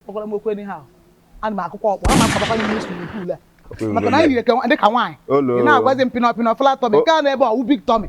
Kpọkwara m okwu anyhow. Ana m akụkwa ọkpọ, ama adabakwa n'ime swimming pool a. Maka na anyị yiri dị ka nwaanyị. Ị na-agwazi m pịnọ pịnọ flat tummy, nke a na-ebe ọ wụ big tummy.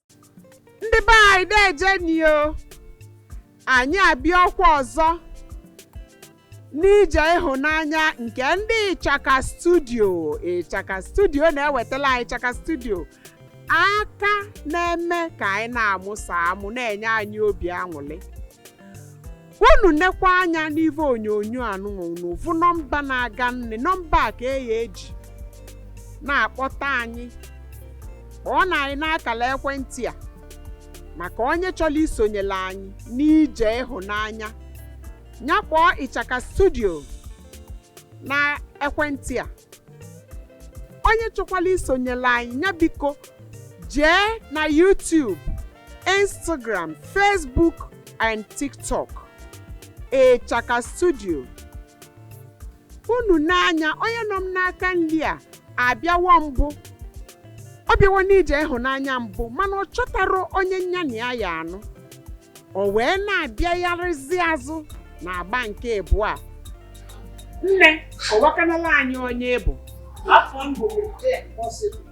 ndị be anyị deejenụ o anyị abịawokwa ọzọ n'ije ịhụnanya nke ndị ịchaka studio ịchaka studio na-ewetala anyị ịchaka studio aka na-eme ka anyị na-amụsa amụ na-enye anyị obi aṅụrị unu nekwa anya n'ive onyonyo a nụnwa unu vụ nọmba na-aga nne nọmba a ka e ya-eji na-akpọta anyị kpọọnụ anyị n'akara ekwentị a maka onye chọrọ isonyere anyị n'ije ịhụnanya ya kpọọ ịchaka studio na ekwentị a onye chọkwara isonyere anyị ya biko jee na YouTube Instagram, Facebook, and TikTok. Ịchaka Studio. Unu nee anya onye nọ m n'aka nri a abịawo mbụ. Ọ bịawo n'ije ịhụnanya mbụ mana ọ chọtara onye nya na ya ya-anụ. O wee na-abịagharịzi azụ na agba nke ịbụa. Nne, kọwakanala anyị onye ị bụ. Afa m bụ Jane Possible.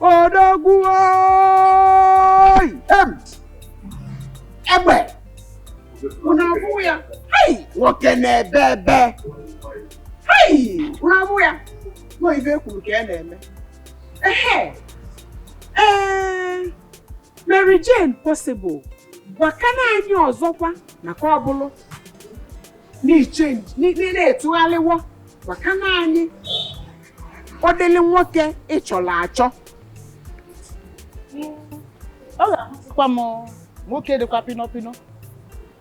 odogwu egbe unu abụ ya nwoke na-ebe ebe unu abụ ya nọ ibe kwuru ka ya e na-eme ehe ee Mary Jane possible gwakana anyị ọzọkwa maka ọ bụlụ na ị chenji na ị tụgharịwo gwakana anyị ụdịlị nwoke ị chọrọ achọ ọ ga-amasịkwa m nwoke dịkwa pịnọ pịnọ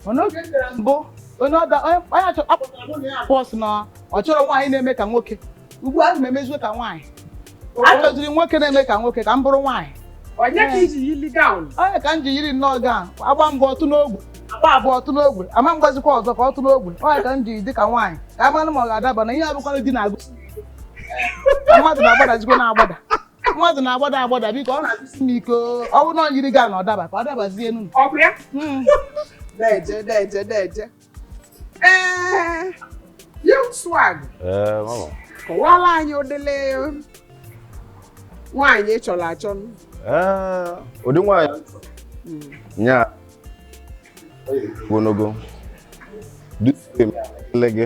mana oge m bịara mbụ onye ọda onye onye achọ a kpọtara mụ na ya abụọ sị na ọ chọrọ nwaanyị na-eme ka nwoke ugbu a ana m emeziwe ka nwaanyị achọziri nwoke na-eme ka nwoke ka m bụrụ nwaanyị ọ ya ka i ji yili gown ọ ya ka m ji yiri nnọọ gown a gbaa mbụ ọ tụọ n'ogwe a gbaa abụọ ọ tụọ n'ogwe ama m agbazikwa ọzọ ka ọ tụọ n'ogwe ọ ya ka m ji dị ka nwaanyị ka a manụ ma ọ ga-adaba na ihe a bụkwanụ di na-agụsi mmadụ na-agbadazikwa na-agbada mmadụ na-agbada agbada biko ọ na-adịsi m ike ọ bụrụ na ọ yiri gị a na ọ daba ka ọ dabazie enu Ọ bụ ya? Mm. Deje, deje, deje. Ee, Young Swag, Ee, mama. kọwala anyị ụdịrị nwaanyị ị chọrọ achọ. Ee, ụdị nwaanyị nya ogologo dịsị m ele gị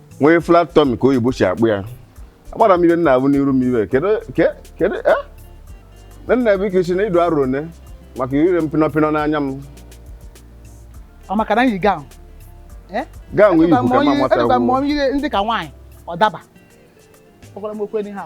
nwee flat tummy ka oyibo si akpọ ya agbara m ibe nna abụ n'iru m iwe kedu ke- kedu eh? na nna bụ ike si na ịdụ arụ one maka ire m pinọpinọ n'anya m ọ maka na yi gown gown nwee ibu ka ma mata Edụba m onye ndị ka nwaanyị ọ daba ọ gwara m okwu enyi ha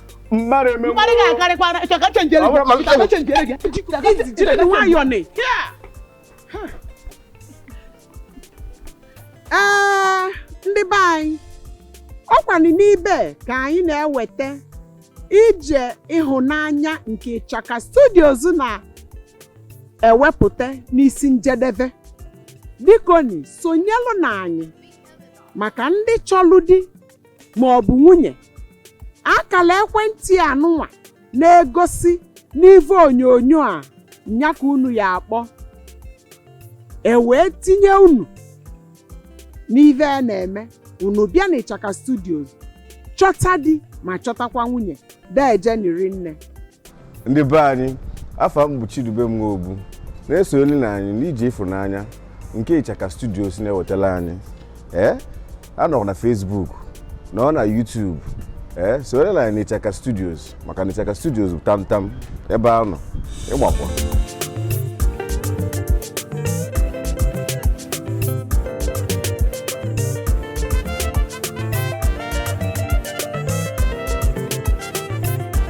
mmadụ eme mmadụ ga-akarịkwara chọka chenjere gị chọka chenjere gị jide gị nwayọọ nị ee ndị be anyị ọkwanụ n'ibe ka anyị na-eweta ije ịhụnanya nke ịchaka studios na-ewepụta n'isi njedebe bikoni sonyelụ na anyị maka ndị chọlụ di ma ọ bụ nwunye akala ekwentị anụnwa na-egosi n'ive onyonyo a nya ka unu ya-akpọ e wee tinye unu n'ive a na-eme unu bịa na ịchaka studios chọta di ma chọtakwa nwunye deje ni rinne ndị be anyị afa m bụ Chidubem Nwobu na-esonyere na anyị n'ije ịfụnanya nke Ịchaka Studios na-ewetala anyị ee a nọrọ na Facebook nọ na YouTube ee sonyere na anyị na Ịchaka Studios maka na Ịchaka Studios bụ tamtam ebe a nọ ịgbakwa